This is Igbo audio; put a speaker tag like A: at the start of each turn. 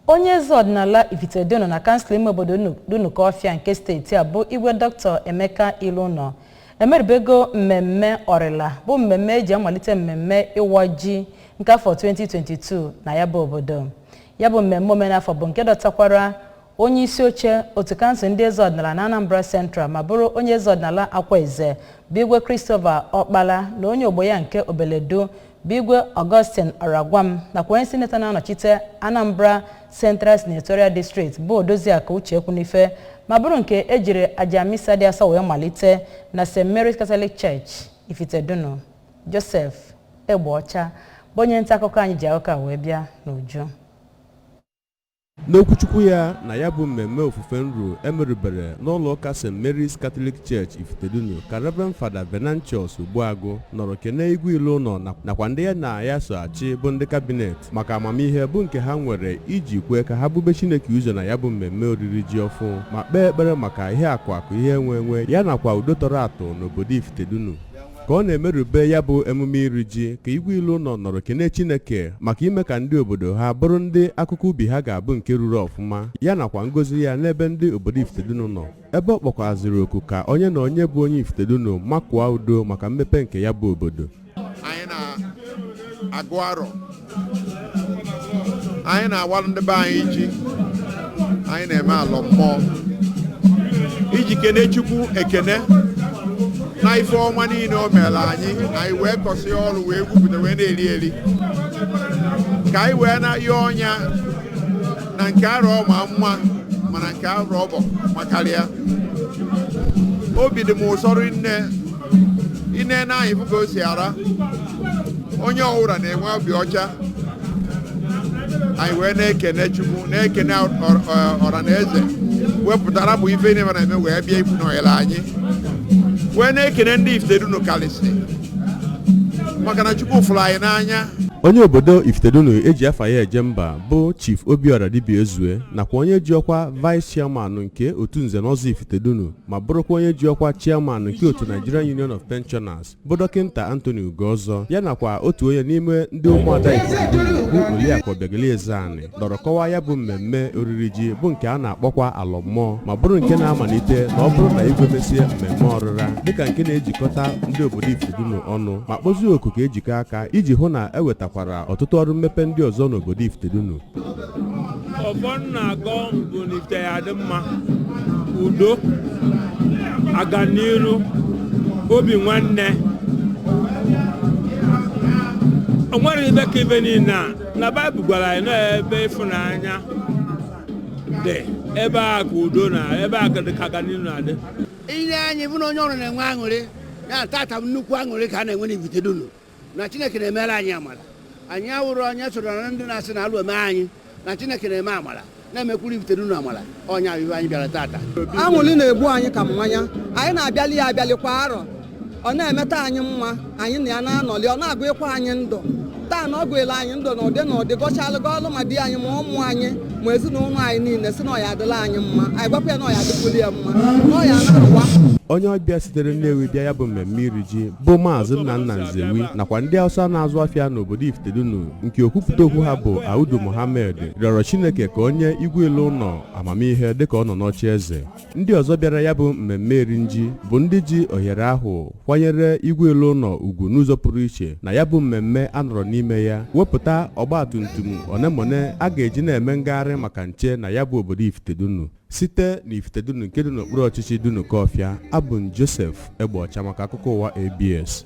A: onye eze ọdịnala ifitedunu na kansụl ime obodo dunukọfịa nke steeti a bụ igwe dọkịta emeka ilouno emerubego mmemme ọrịla bụ mmemme eji amalite mmemme ịwa ji nke afọ 2022 na ya bụ obodo ya bụ mmemme omenafọ bụ nke dọtakwara onye isi oche otu kansụl ndị eze ọdịnala na anambra central ma bụrụ onye eze ọdịnala akwaeze bụ igwe christopher ọkpala na onye ogbo ya nke obeledu bụ igwe Augustine Oragwam nakwa onye sinetọ na-anọchite Anambra Central Senatorial District bụ Odoziakụ Uche Ekwunife ma bụrụ nke ejiri aja misa dị asọ wee malite na St. Mary's Catholic Church Ifitedunu Joseph Egbeọcha bụ onye nta akụkọ anyị ji akụkọ a wee bịa n'uju
B: N'okwuchukwu ya na ya bụ mmemme ofufe nru emerubere n'ụlọ ụka St. Mary's Catholic Church Ifitedunu ka Reverend Fada Venantius Ogbuagụ nọrọ kene igwe Ilouno nakwa ndị ya na ya so achị bụ ndị kabinet maka amamihe bụ nke ha nwere iji kwee ka ha bube Chineke ụzọ na ya bụ mmemme oriri ji ọfụ ma kpee ekpere maka ihe akụ akụ ihe enwe enwe ya nakwa udo tọrọ atọ n'obodo Ifitedunu ka ọ na-emerube ya bụ emume iri ji ka igwe ilouno nọrọ kene chineke maka ime ka ndị obodo ha bụrụ ndị akụkụ ubi ha ga-abụ nke ruru ọfụma ya nakwa ngozi ya n'ebe ndị obodo ifitedunu nọ ebe ọ kpọkwaziri oku ka onye na onye bụ onye ifitedunu makụọ udo maka mmepe nke ya bụ obodo anyị
C: na-agụ arọ anyị na-awalụ ndị be anyị ji anyị na-eme alọ mmụọ iji kene chukwu ekene na ife ọma niile o mere anyị anyị wee kọsị ọrụ wee gwupụta wee na-eri eri ka anyị wee na-ayọ nya na nke arọ ma mma mana nke arọ ọzọ makarịa obi dị m ụsọ rinne ine na anyị fụ ka o si ara onye ọwụra na-enwe obi ọcha anyị wee na-ekene chukwu na-ekene ọra na eze wepụtara bụ ife na-eme wee bịa ịkwụnyere anyị wee na-ekene ndị ifitedunu kalịsị maka na chukwu fụrụ anyị n'anya onye
B: obodo ifitedunu eji afa ya eje mba bụ chief obiora dibiaezue nakwa onye ji ọkwa vice chairman nke otu nze na ọzọ ifitedunu ma bụrụkwa onye ji ọkwa chairman nke otu Nigerian Union of Pensioners bụ dọkịnta Anthony Ugozor ya nakwa otu onye n'ime ndị ụmụada Ifitedunu bụ Oliakụ Obiageli Ezeani nọrọ kọwaa ya bụ mmemme oriri ji bụ nke a na-akpọkwa alọ mmụọ ma bụrụ nke na-amalite na ọ bụrụ na igwe mesie mmemme ọrịra dịka nke na-ejikọta ndị obodo Ifitedunu ọnụ ma kpọzie oku ka ejikọ aka iji hụ na ewetakwara ọtụtụ ọrụ mmepe ndị ọzọ n'obodo Ifitedunu
D: ọfọ m na-agọ bụ n'ifite ya dị mma udo aganiru obi nwanne o nwere ife ka ife niile a na baịbụl gwara anyị na ebe ịfụnanya dị ebe a ka udo na ebe a ka dị ka aganiru na-adị i nee anya
E: ị fụ na onye ọbụna na-enwe aṅụrị ya tata bụ nnukwu aṅụrị ka a na-enwe n'ifitedunu na chineke na-emere anyị amara anyị awụrụ onye soro na ndị na-asị na alụ eme anyị na chineke na-eme amara na-emekwuru ifitedunu amara ọ nya bụ ihe anyị bịara tata anwụli na-egbu
F: anyị ka mmanya anyị na-abịali ya abịali kwa arọ ọ na-emeta anyị mma anyị na ya na-anọli ọ na-agọlikwa anyị ndụ taa na ọ gọọla anyị ndụ na ụdị na ụdị gọchalụ gọọlụ ma di anyị ma ụmụ anyị ma ezinụlọ anyị niile sị na ọ ya-adịlị anyị mma anyị gwakwa ya na ọ ya-adịkwuli ya mma na ọ ya na-awa onye ọbịa
B: sitere Nnewi bịa ya bụ mmemme iri ji bụ maazị nnanna nzewi nakwa ndị hausa na-azụ afịa n'obodo ifitedunu nke okwupụta okwu ha bụ audu mohammed rịọrọ chineke ka o nye igwe ilounọ amamihe dịka ọ nọ n'oche eze ndị ọzọ bịara ya bụ mmemme iri ji bụ ndị ji ohere ahụ kwanyere igwe ilounọ ugwu n'ụzọ pụrụ iche na ya bụ mmemme a nọrọ n'ime ya wepụta ọgba tum tum onemone a ga-eji na-eme ngagharị maka nche na ya bụ obodo ifitedunu site n'ifitedunu nke dị n'okpuru ọchịchị dunukọfịa abụ m joseph egbeọcha maka akụkọ ụwa abs